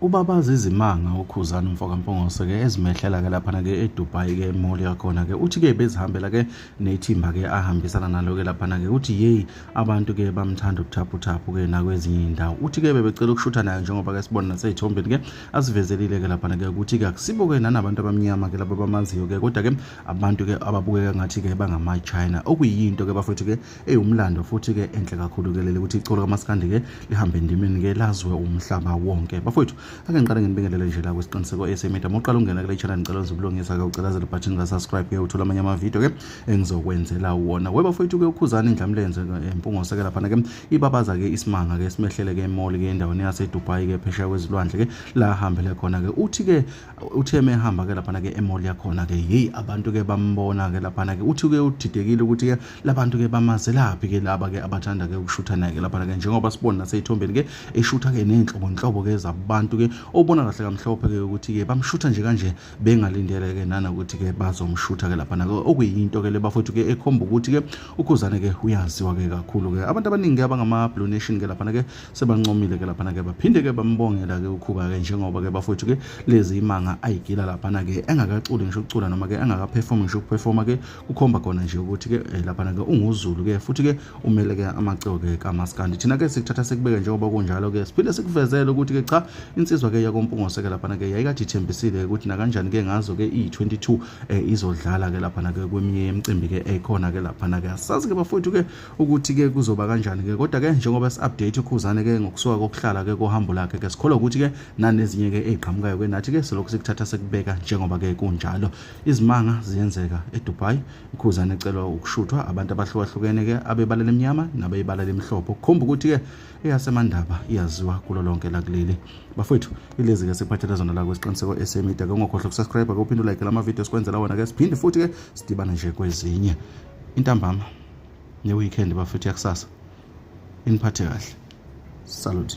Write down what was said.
ubabaza izimanga ukhuzana umfokampongose ke ezimehlela ke laphana ke edubai ke emoli yakhona ke uthi ke bezihambela ke nethimba ke ahambisana nalo ke laphana ke uthi yeyi abantu ke bamthanda ubuthaphuthaphu ke nakwezinye iy'ndawo uthi ke bebecela ukushutha nayo njengoba ke sibona nasey'thombeni ke asivezelile ke laphana ke ukuthi ke akusibo ke nanabantu abamnyama ke laba bamaziyo ke kodwa ke abantu ke ababukeka ngathi ke bangamachina okuyinto ke bafethu ke ewumlando futhi ke enhle kakhulu ke leli ukuthi icolo kamaskandi ke lihambe endimeni ke lazwe umhlaba wonke bafowethu ake ngiqale nginibingelele nje la kwisiqiniseko esemedia uma uqala ungena kule channel ngicela uzibulungisa ke ucelazela button ka subscribe ke uthola amanye amavideo ke engizokwenzela wona we bafowethu ke ukhuzana indlamlenze eh, impungose ke laphana ke ibabaza ke isimanga ke simehlele ke emall ke endaweni yaseDubai ke phesheya kwezilwandle ke la hambele khona ke uthi ke uthe mehamba ke laphana ke emall yakhona ke hey abantu ke bambona ke laphana ke uthi ke udidekile ukuthi ke labantu ke bamazelaphi ke laba ke abathanda ke ukushutha naye ke laphana ke njengoba sibona naseyithombeni ke eshutha ke nenhlobo nhlobo ke zabantu ke obona kahle kamhlophe ke ukuthi ke bamshutha nje kanje bengalindele ke nana ukuthi ke bazomshutha ke laphana ke okuyinto ke lebafowethu ke ekhomba ukuthi ke ukhuzane ke uyaziwa ke kakhulu ke abantu abaningi abangama blue nation ke laphana ke sebancomile ke laphana ke baphinde ke bambongela ke ukhuba ke njengoba ke bafowethu ke lezi imanga ayigila laphana ke engakaculi ngisho ukucula noma ke engakaperform ngisho ukuperforma ke kukhomba khona nje ukuthi ke eh, laphana ke unguzulu ke futhi ke umele ke amaciko ke kamaskandi thina ke sikuthatha sikubeke njengoba kunjalo ke siphinde sikuvezele ukuthi ke cha insizwa ke yakompungose ke laphana ke yayikade ithembisile ukuthi nakanjani ke ngazo ke iyi-22 eh, izodlala ke laphana ke kweminye yemicimbi ke ekhona ke laphana ke asazi ke bafowethu ke ukuthi ke kuzoba kanjani ke kodwa ke njengoba si-update ukhuzane ke ngokusuka kokuhlala ke kohambo lakhe ke sikholwa ukuthi ke nanezinye ke ey'qhamukayo ke nathi ke selokhu sikuthatha sekubeka njengoba ke kunjalo izimanga ziyenzeka edubai ukhuzane ecelwa ukushuthwa abantu abahlukahlukene ke abebala lemnyama nabeyibala lemhlophe ukukhomba ukuthi ke eyasemandaba iyaziwa kulo lonke lakuleli bafowethu ilezi ke sikuphathela zona la kwesiqiniseko esemida ke ungakhohlwa ukusubscribe ke uphinde ulike lama videos kwenzela wona ke siphinde futhi ke sidibane nje kwezinye intambama ne-weekend bafethu yakusasa iniphathe kahle salute